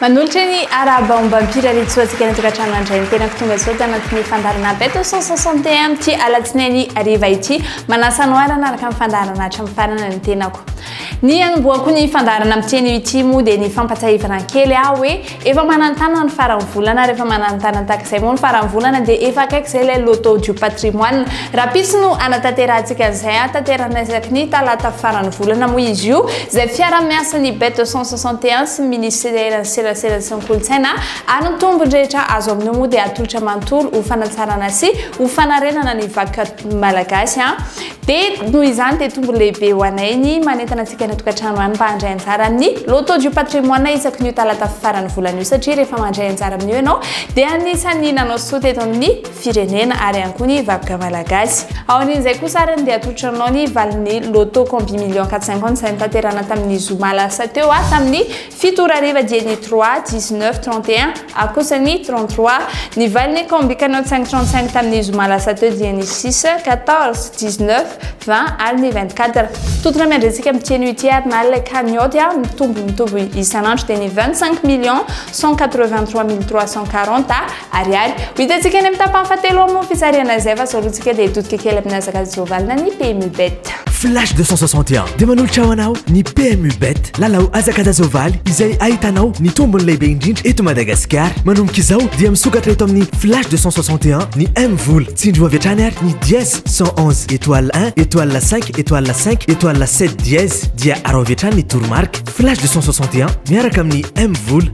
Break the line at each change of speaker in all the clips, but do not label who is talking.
Manolotra ny araba ombam-pira ritsoantsika ny tokantrano andray ny tenako tonga soa tanatin'ny fandaharana beto cent soixante et un amin'ity alatsinainy hariva ity manasa anoharana araka ny fandaharana hatramin'ny farana ny tenako Ny hanombohako ny fandaharana amin'ity anio ity moa dia ny fampatsiahivana kely aho hoe efa manantana ny faran'ny volana ary efa manantana tahaka izay moa ny faran'ny volana dia efa akaiky izay ilay loto du patrimoine. Rahampitso no hanatanterahantsika an'izay hahatanterahana isaky ny talata faran'ny volana moa izy io izay fiaraha-miasan'ny bet deux cent soixante et un sy ny minisiteran'ny serasera sy ny kolontsaina ary ny tombony rehetra azo amin'io moa dia atolotra manontolo ho fanatsarana sy ho fanarenana ny vaky malagasy. Dia noho izany dia tombony lehibe ho anay ny manentana antsika any an-tokantrano any mba handray anjara amin'ny Loto du Patrimoine isaky ny io talata faran'ny volana io satria rehefa mandray anjara amin'io ianao dia anisan'ny nanao soa teto amin'ny firenena ary ihany koa ny vakoka malagasy. Aorian'izay kosa arany dia atolotra aminao ny valin'ny Loto Combi Million 450 izay notanterahina tamin'ny zoma lasa teo tamin'ny Fito ora hariva dia ny trois, dix-neuf, trente et un, ary kosa ny trente-trois. Ny valin'ny combi Canot cinq trente-cinq tamin'ny zoma lasa teo dia ny six, quatorze, dix-neuf, vingt ary ny vingt-quatre. Tontona miandrentsika amin'ity anio ity ary na ilay cagnotte dia mitombo mitombo isan'andro dia ny vingt-cinq millions cent quatre-vingt-trois mille trois cent quarante. Ariary. Ho hitantsika any amin'ny tapany fahatelo ao moa ny fitsarihana izay fa izao aloha tsika dia hitodika kely amin'ny hazakazaka Jovalina ny PMU Bet. Flash 261
dia manolotra ho anao ny PMU Bet, lalao hazakaza Jovaly izay ahitanao ny tombony lehibe indrindra eto Madagasikara. Manomboka izao dia misokatra eto amin'ny Flash 261 ny M Vola. Tsindrio avy hatrany ary ny dièse 111 étoile 1 étoile 5 étoile 5 étoile 7 dièse dia arao avy hatrany ny toromarika. Flash 261 miaraka amin'ny M Vola.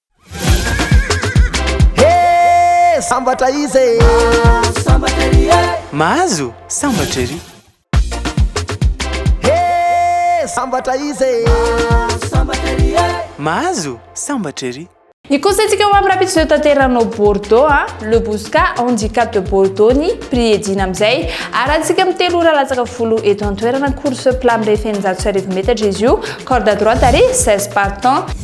Hee sambatra izy e! Mahazo sambatra
ery e! Mahazo sambatra ery! Hee sambatra
izy e!
Mahazo sambatra ery e! Mahazo sambatra ery! Ny kolontsaintsika
ho amin'ny rahampitso izay hotanteranao Bordeaux a, Le Bousca, Handicap de Bordeaux ny prix edina amin'izay. Arantsika amin'ny telo ora latsaka folo eto an-toerana, course plat mirefy eninjato sy arivo metatra izy io, corde à droite ary seize partants.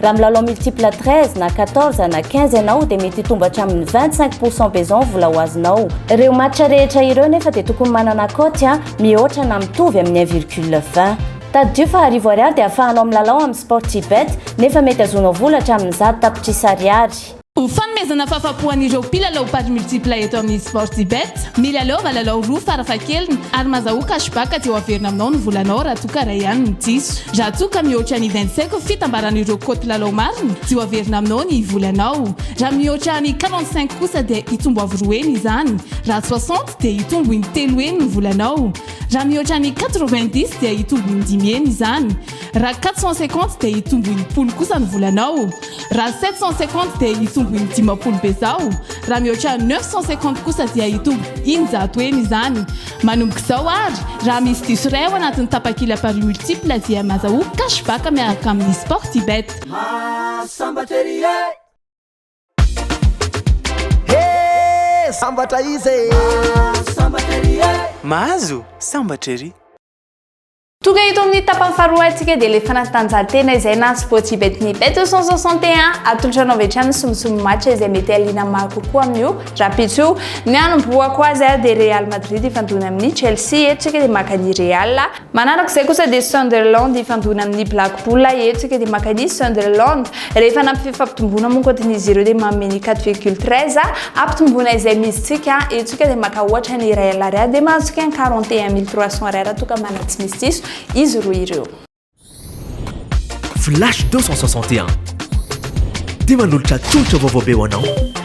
Raha milalao multiple 13 na 14 na 15 ianao dia mety hitombo hatramin'ny 25 pourcent be izao ny vola ho azonao. Ireo match rehetra ireo nefa dia tokony manana cote a mihoatra na mitovy amin'ny 1 virgule 20. Tadidio fa arivo ariary dia afahanao milalao amin'ny Sportybet nefa mety azonao vola hatramin'ny zato tapitrisa ariary. Ho
fanomezana fahafapo an'ireo mpilalao paris multiple eto amin'ny Sportybet, milalaova lalao roa farafahakeliny ary mazahoa cash back aty ho averina aminao ny volanao raha toa ka iray ihany no diso. Raha toa ka mihoatra ny vingt cinq fitambaran'ireo cote lalao marina dia ho averina aminao ny volanao. Raha mihoatra ny quarante cinq kosa dia hitombo avo roa heny izany. Raha soixante dia hitombo in-telo heny ny volanao. Raha mihoatra ny quatre vingt dix dia hitombo in-dimy heny izany. Raha quatre cent cinquante dia hitombo enimpolo kosa ny volanao. Raha sept cent cinquante dia hitombo indimapolo bezao. Raha mihoatra neuf cent cinquante kosa dia hitombo eninjato heny izany. Manomboka izao ary, raha misy diso iray ao anatin'ny tapakila paris multiple dia maza ho cash back miaraka amin'ny sportybet. Mahasambatra ery e!
He! Sambatra izy e! Mahasambatra ery e!
Mahazo sambatra ery!
Tonga eto amin'ny tapany faharoa antsika dia ilay fanatanjahantena izay na tsy voatsy bet ny bet 261 atolotra anao avy hatrany ny somosomo match izay mety haliana maro kokoa amin'io rahampitso io. Ny hanombohako azy ary dia Real Madrid hifandona amin'ny Chelsea, eto isika dia maka ny Real. Manaraka izay kosa dia Sunderland hifandona amin'ny Black Bull, eto isika dia maka ny Sunderland. Rehefa nampifefy fampitomboana moa ankoatin'izy ireo dia manome ny 4,13 ampitomboana izay mizintsika etsika dia maka ohatra ny iray alary ahy dia mahazo ken 41300 ariary raha toa ka manana tsy misy diso izy roa ireo.
Flash 261. Dia manolotra tolotra vaovao be ho anao.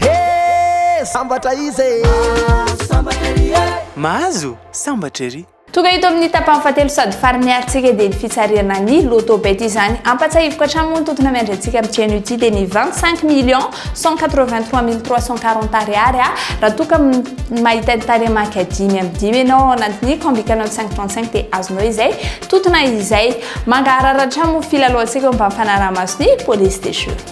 Hee sambatra izy e! Mahazo sambatra ery e!
Mahazo sambatra ery! Tonga eto amin'ny tapany
fahatelo sady farany harintsika dia ny fitsarihana ny loto bet izany. Ampatsahiviko hatrany moa ny tontona miandry antsika amin'ity anio ity dia ny 25 millions 183 mille 340 ariary a! Raha toa ka mahita ny tarehimarika dimy amby dimy ianao ao anatin'ny combi canal 535 dia azonao izay tontona izay. Mangaharara hatrany moa ny filalaohantsika eo ambany fanaraha-mason'ny police des jeux.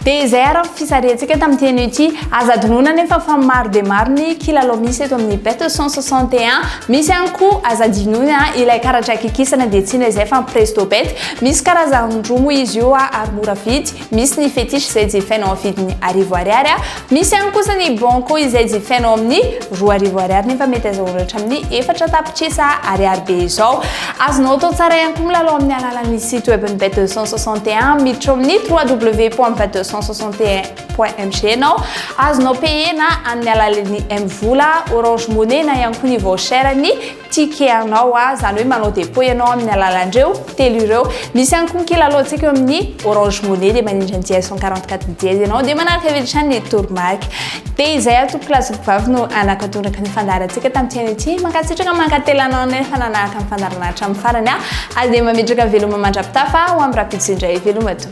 Dia izay
ary ny fisarihantsika tamin'ity anio ity. Aza adinoina anefa fa maro dia maro ny kilalao misy eto amin'ny Bet 161. Misy ihany koa, aza adinoina, ilay karatra akikisana dia tsy inona izay fa ny Presto Bet. Misy karazany roa moa izy io ary mora vidy. Misy ny Fetiche izay jifainao amin'ny vidiny arivo ariary Misy ihany kosa ny Bronco izay jifaina ao amin'ny roa arivo ariary nefa mety azahoanao hatramin'ny efatra tapitrisa ariary be izao. Azonao atao tsara ihany koa milalao amin'ny alalan'ny site web-n'ny Bet 261 miditra ao amin'ny www.bet261.mgn aho. Azonao payer-na amin'ny alalan'ny M-vola, Orange Money na ihany koa ny voucher-n'ny Ticket anao a, izany hoe manao dépôt ianao amin'ny alalan'ireo telo ireo. Misy ihany koa ny kilalaontsika eo amin'ny Orange Money dia manindry an'i JS 144 Didier ianao dia manaraka avy hatrany ny toromarika. Dia izay aho tompoko lahy sy tompoko vavy no hanakatondraka ny fandaharantsika tamin'ity anio ity. Mankasitraka, mankatelina anao indray fa nanaraka ny fandaharana hatramin'ny farany aho ary dia mametraka veloma mandra-pitafa ho amin'ny rahampitso indray. Veloma tompoko.